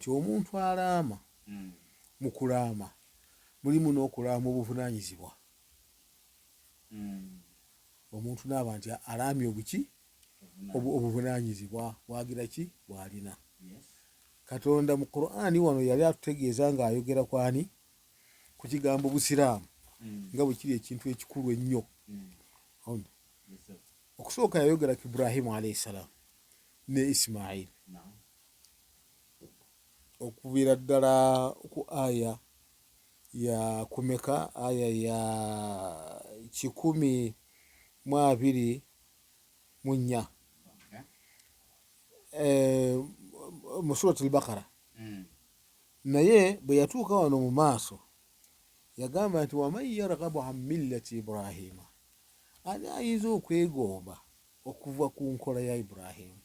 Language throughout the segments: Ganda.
Nti omuntu alaama, mu kulaama mulimu n'okulaama obuvunaanyizibwa. Omuntu n'aba nti alaamye obuki? Obuvunaanyizibwa bwagira ki? Bw'alina. Katonda mu Kuraani wano yali atutegeeza ng'ayogera ku ani? Ku kigambo Busiraamu nga bwe kiri ekintu ekikulu ennyo. Okusooka yayogera ku Ibrahimu alaihi salaamu ne Isimaili. okuvira ddala ku aya ya kumeka aya ya kikumi mu abiri mu nnya eh, mu surat albakara hmm. naye bwe yatuuka wano mu maaso yagamba nti waman yargabu an millati ibrahima ani ayinza okwegomba okuva ku nkola ya ibrahimu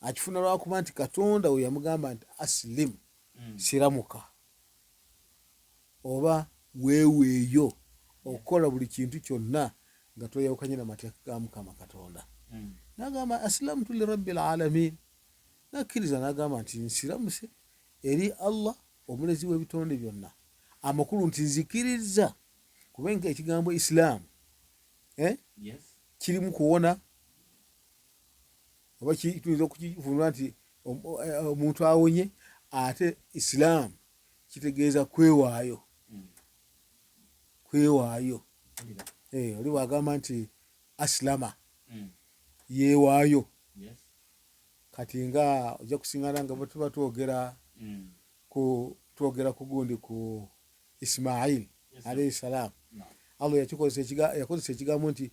akifuna lwakuba nti katonda we yamugamba nti asilimu mm. siramuka oba weeweeyo okukola buli kintu kyonna nga tweyawukanye na mateeka ga mukama katonda mm. nagamba asilamu tuli rabbi lalamin nakkiriza nagamba nti nsiramuse eri allah omulezi w'ebitonde byonna amakulu nti nzikiriza kubenga ekigambo isilaamu eh? kirimu kuwona oba tuyinza okukivunula nti eh, omuntu awonye ate isilaamu kitegeeza kwewaayo kwewaayo eh, oli wagamba nti asilama hmm. yewaayo kati nga ojja kusingana nga bwetuba twogera hmm. ku twogera ku gundi ku isimaili alaihi salaamu allah yakozesa ekigambo nti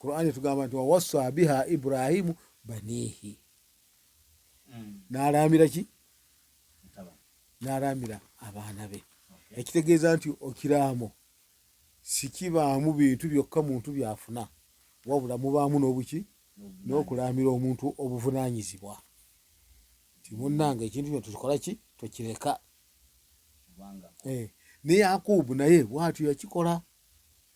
Qur'an etugamba nti wawassa biha Ibrahimu banihi hmm. nalaamira ki nalaamira abaana be ekitegeeza nti okiraamo sikibaamu bintu byokka muntu byafuna wabula mubaamu n'obuki n'okulaamira omuntu obuvunaanyizibwa timunnanga ekintu kino tukikola ki tukireka eh, ne yakubu naye bwatyo yakikola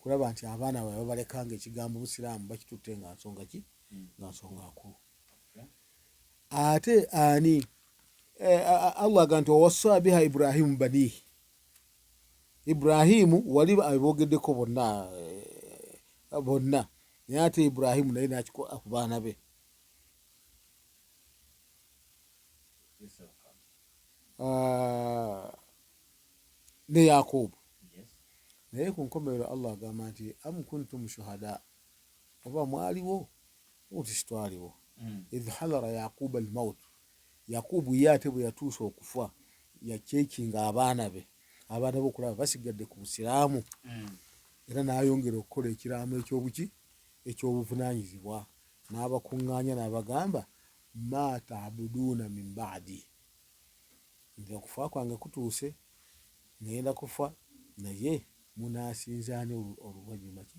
kulaba nti abaana bawe babaleka nga ekigambo busiraamu bakitutte nga nsonga ki hmm. nga nsonga nkulu ate ani eh, allah aga nti wawassa biha ibrahimu banihi ibrahimu wali abogeddeko bonna eh, bonna naye ate ibrahimu naye nakikola ku baana be ah, ne yakubu naye ku nkomerero allah agamba nti am kuntum shuhada oba mwaliwo uti sitwaliwo mm. idh hadara yakuba almaut yakubu ye ate bwe yatuusa okufa yakyekinga abaana be abaana be okulaba basigadde ku busiraamu mm. era n'ayongera okukola ekiraamo ekyobuki ekyobuvunanyizibwa n'abakuŋŋaanya n'abagamba ma tabuduuna min baadi nti okufa kwange kutuuse, ŋŋenda kufa, naye munaasinza ani oluvannyuma ki?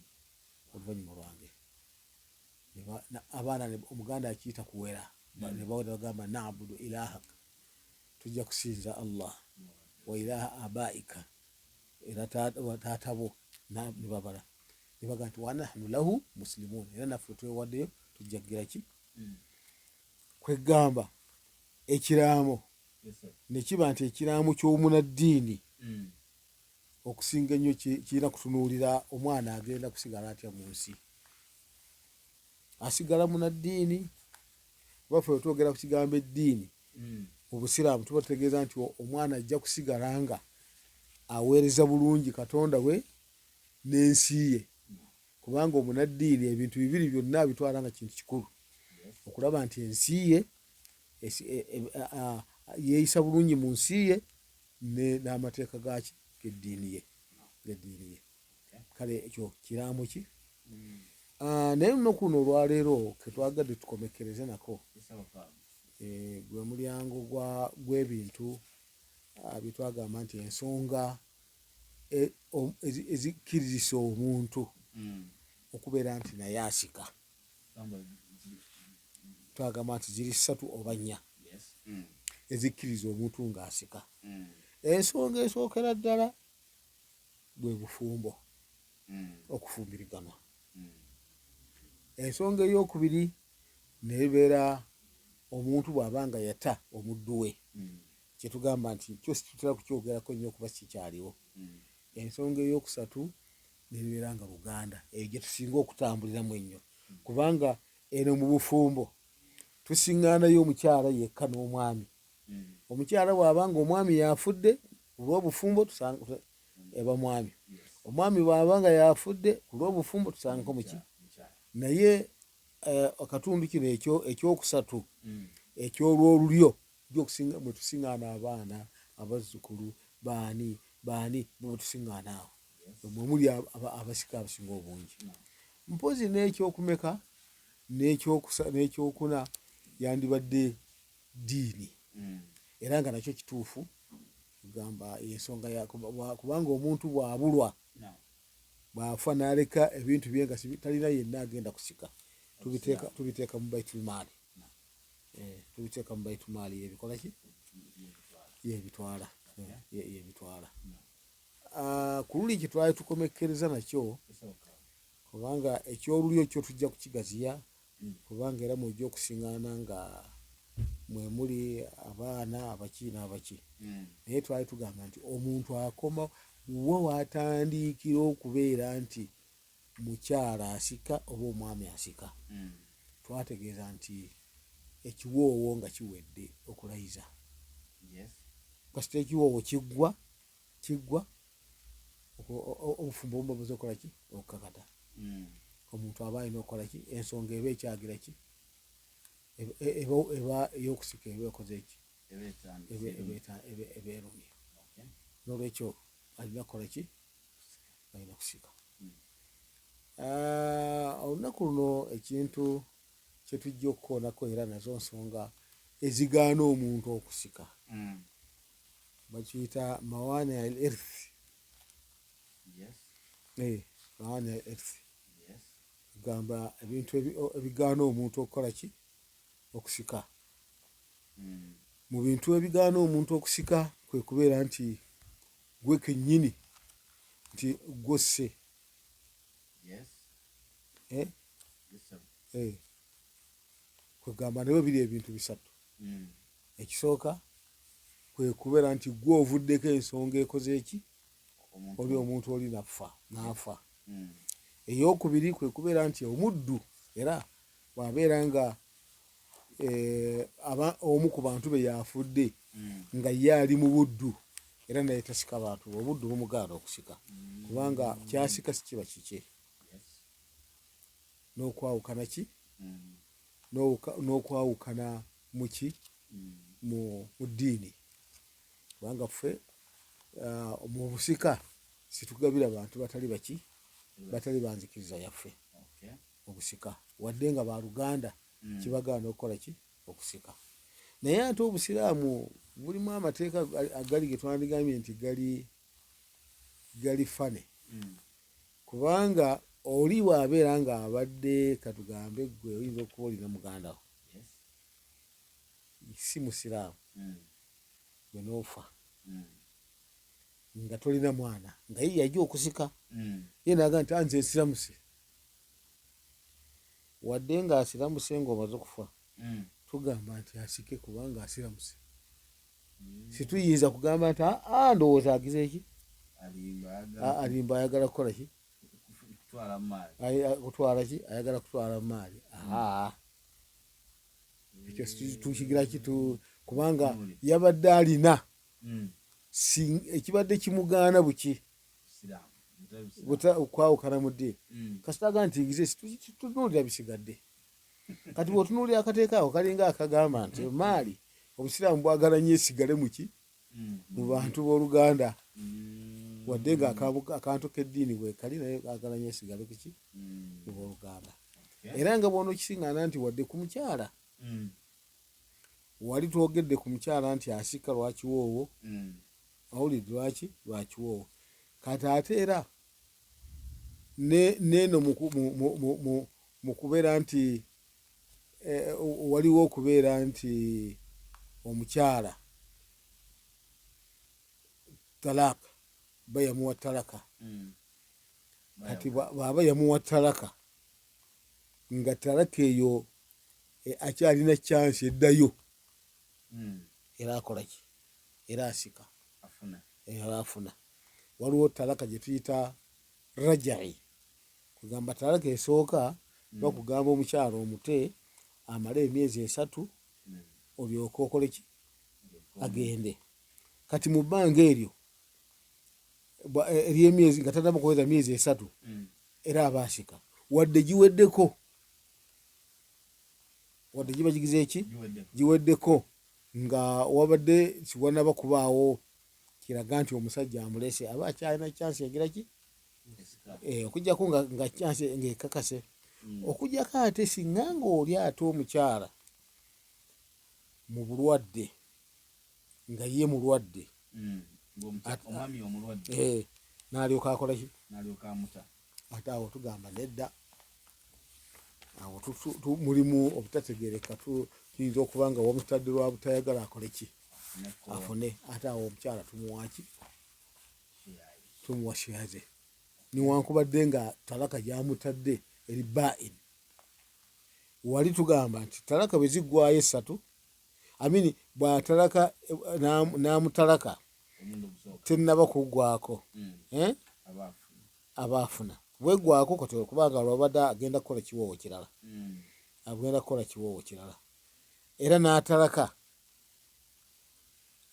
Oluvannyuma lwange. Abaana Omuganda akiyita kuwera, hmm. ne bawera bagamba naabudu ilahak, tujja kusinza Allah wa ilaha abaika era taata bo ne babala ne bagamba nti wanahnu lahu musilimuun, era naffe twewaddeyo tujja kugira ki? Hmm. Kweggamba ekiraamo ne kiba nti ekiraamo ky'omunaddiini mm. okusinga ennyo kirina kutunuulira omwana agenda kusigala atya mu nsi asigala munaddiini baffe wetwogera ku kigambo eddiini mm. mu busiraamu tuba tutegeeza nti omwana ajja kusigala nga aweereza bulungi katonda we n'ensi ye Kubanga omunaddiini ebintu bibiri byonna abitwala nga kintu kikulu, okulaba nti ensi ye e, e, yeeyisa bulungi mu nsi ye n'amateeka gaaki geddiini ye geddiini ye kale ekyo kiraamo ki hmm. ah, naye lunaku luno olwaleero ketwagadde tukomekereze nako eh, gwe mulyango gw'ebintu ah, byetwagamba nti ensonga e, ezikkiriza omuntu mm. okubeera nti naye asika twagamba nti ziri ssatu oba nnya mm. ezikkiriza omuntu ng'asika mm. ensonga esookera ddala bwe bufumbo mm. okufumbiriganwa ensonga ey'okubiri nebeera omuntu bw'aba nga yata omuddu we kyetugamba nti kyo situtera kukyogerako nnyo kuba kikyaliwo mm. ensonga eyokusatu nebeera nga luganda eyo gyetusinga okutambuliramu ennyo mm. kubanga eno mu bufumbo tusiŋŋaanayo omukyala yekka n'omwami mm. omukyala bwaba nga omwami yafudde kulwobufumbo eba mwami omwami bwaba nga yafudde kulwobufumbo tusangako muki naye eh, akatundu kino ekyokusatu ekyolwolulyo Jjo okusinga mwe tusiŋŋaana abaana, abazzukulu, baani, baani, mwe tusiŋŋaana awo. Mwe muli abasika abasinga obungi. Mpozi n'ekyokumeka n'ekyokuna yandibadde ddiini. Hmm. Era nga nakyo kituufu gamba ensonga ya kubanga omuntu bw'abulwa bw'afa n'aleka ebintu bye nga talina yenna agenda kusika tubiteeka mu baitulmaali. eh, tubiteeka mu baitumaali yebikola ki yebitwala yebitwala ah, ku luli kye twali tukomekkereza nakyo kubanga ekyolulyo kyo tujja kukigaziya kubanga era mwejja okusingana nga mwemuli abaana abaki n'abaki hmm. naye twali tugamba nti omuntu akoma wo watandiikira okubeera nti mukyala asika oba omwami asika twategeeza nti ekiwoowo nga kiwedde okulayiza kasita ekiwoowo kiggwa kiggwa obufumbo obuba buze okukola ki okukakata hmm. omuntu aba alina okukola ki ensonga eba ekyagira ki eba eyokusika eba ekoze eki eba erumye nolwekyo alina kukola ki balina kusika ah, olunaku luno ekintu kyetujja okukoonako era nazo nsonga ezigaana omuntu okusika hmm. bakiyita mawaani al earth eh, mawaani al earth gamba ebintu ebigaana omuntu okukola ki okusika hmm. mu bintu ebigaana omuntu okusika kwe kubeera nti gwe kenyini nti gwosse eh? eh. kwegamba nawe biri ebintu bisatu hmm. ekisooka kwekubeera nti gwe ovuddeko ensonga ekoze eki oli omuntu oli nafa nafa hmm. eyokubiri kwekubeera nti omuddu era bwabeera nga eh, aba omu ku bantu be yafudde mm. nga ye ali mu buddu era naye tasika bantu obuddu bumugaana okusika mm. kubanga kyasika sikiba kikye n'okwawukana ki mm. n'okwawukana muki mu ddiini kubanga ffe ah, mu busika situgabira bantu batali baki batali banzikiriza yaffe obusika wadde nga ba luganda mm. kibagaana okukola ki okusika naye ate obusiraamu bulimu amateeka agali getwandigambye nti gali gali fane mm. kubanga oli bwabeera nga abadde katugambe gwe oyinza okuba olina mugandawo si musiraamu mm. gwe noofa mm. nga tolina mwana nga ye yajja okusika mm. ye naga nti anze ah, nsiramusi wadde nga asiramuse nga omaze okufa mm. tugamba nti asike kubanga asiramuse mm. situyinza kugamba nti aa ah, ah, ndowooza agize ki alimba ayagala kukola ki kutwala ki ayagala kutwala maali ekyo tukigira ki kubanga yabadde alina mm. ekibadde kimugaana buki okwawukana mu ddiini mm. kasita aga nti exist tutunuulira bisigadde kati bwotunuulira akateeka ako kalinga akagamba nti maali obusiraamu bwagala nyo esigale muki mm. mu bantu b'oluganda mm. wadde nga akantu k'eddiini bwekali naye agala nyo esigale kuki mu b'oluganda era nga bwona okisiŋana nti wadde ku mukyala wali twogedde ku mukyala nti asika lwakiwoowo awulidde lwaki lwakiwoowo kati ate era neeno mu kubeera nti e, waliwo okubeera nti omukyala talaka ba yamuwa talaka hmm. kati bwaba yamuwa talaka nga talaka eyo e, akyalina chansi eddayo era akolaki era asika era afuna waliwo talaka gyetuyita rajai kugamba talaka esooka mm. bakugamba omukyalo omute amale emyezi esatu mm. olyoke okoleki agende kati mu bbanga eryo e, eryemyezi nga tataba kuweza myezi esatu mm. era aba asika wadde giweddeko wadde giba gigize eki giweddeko nga wabadde siwanaba kubaawo kiraga nti omusajja amulese aba akyalina kyansi egira ki eh, okujjako nga kyansi ngaekakase hmm. okujjako ate singa ngaoli ate omukyala mu bulwadde nga ye mulwadde hmm. eh, nalyoka akolaki ate awo tugamba nedda awo mulimu obutategereka tuyinza okuba nga wamutadde lwa butayagala akole ki afune ate awo omukyala tumuwaki tumuwa shiyaze niwankubadde nga talaka gyamutadde eri bain wali tugamba nti talaka bwe ziggwayo essatu amini bwatalaka n'amutalaka tenaba kugwako mm. eh? abaafuna bwegwako kati okubanga lwabadde agenda kukola kiwoowo kirala mm. agenda kukola kiwoowo kirala era n'atalaka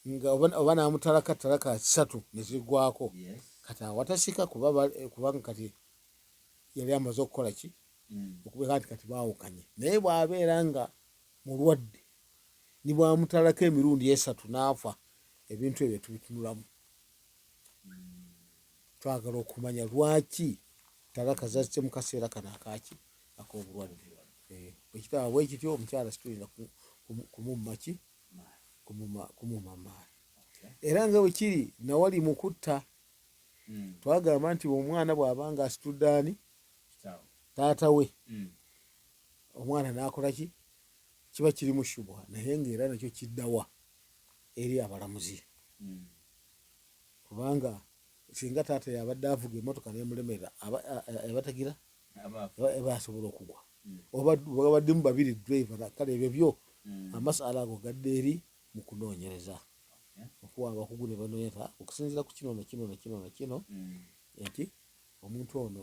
nga oba namutalaka talaka satu nezigwako kati awatasika kubanga kati yali amaze okukola ki mm. okubeera nti kati baawukanye naye bw'abeera nga mulwadde ni bwamutalako emirundi esatu naafa ebintu ebyo tubitunulamu twagala okumanya lwaki talaka zazze mu kaseera kano akaki ak'obulwadde eh, bwekitaba bwekityo omukyala situlina kumummaki kumumamaala era nga bwekiri nawali mu kutta hmm. twagamba nti omwana bw'aba nga asitudde ani taata we hmm. omwana n'akolaki kiba kirimu shubha naye nga era nakyo kiddawa eri abalamuzi hmm. kubanga singa taata yabadde avuga emotoka nemulemerera abatagira basobola okugwa hmm. obabaddemu babiri driver kale ebyo byo hmm. amasala ago gadde eri mu kunoonyereza okuwa abakugu ne banoonyereza okusinzira ku kino nakino nakino nakino nti omuntu ono